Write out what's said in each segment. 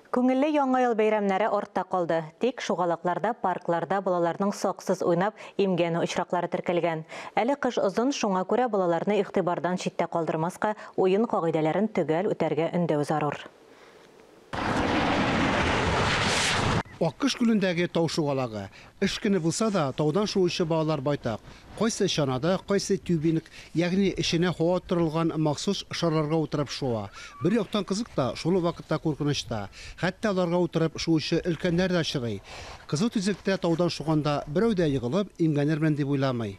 Күңелле Яңа ел бәйрәмнәре артта калды. Тик шугалакларда, паркларда балаларның саксыз уйнап, имгәнү очраклары теркәлгән. Әле кыш озын, шуңа күрә балаларны игътибардан читтә калдырмаска, уен кагыйдәләрен төгәл үтәргә өндәү зарур. Аккош күлендәге тау шугалагы, Эш көне булса да, таудан шуучы балалар байтак. Кайсы чанада, кайсы тюбинг, ягъни эченә һава оттырылган махсус шарларга утырып шуа. Бер яктан кызык та, шул ук вакытта куркыныч та. Хәтта аларга утырып шуучы өлкәннәр дә очрый. Кызыл төзектә таудан шуганда берәү дә егылып, имгәнермен дип уйламый.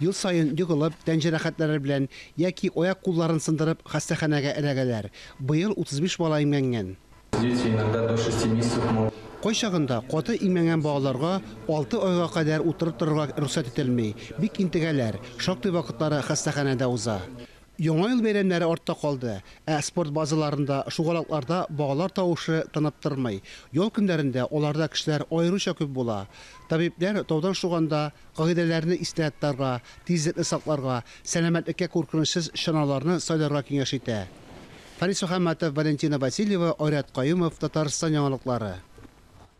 Ел саен егылып, тән җәрәхәтләре белән яки аяк-кулларын сындырып хастаханәгә эләгәләр. Быел 35 бала имгәнгән. Дети иногда до шести месяцев могут. Кайчагында каты имгәнгән балаларга алты айга кадәр утырып торырга рөхсәт ителми, бик интегәләр, шактый вакытлары хастаханәдә уза. Яңа ел бәйрәмнәре артта калды, ә спорт базаларында, шугалакларда балалар тавышы тынып тормый. Ял көннәрендә аларда кешеләр аеруча күп була. Табибләр таудан шуганда, Кагыйдәләрне истә тотарга, тизлекне сакларга, сәламәтлеккә куркынычсыз чаналарны сайларга киңәш итә. Фарис Мөхәммәтов, Валентина Васильева, Айрат Каюмов, Татарстан яңалыклары.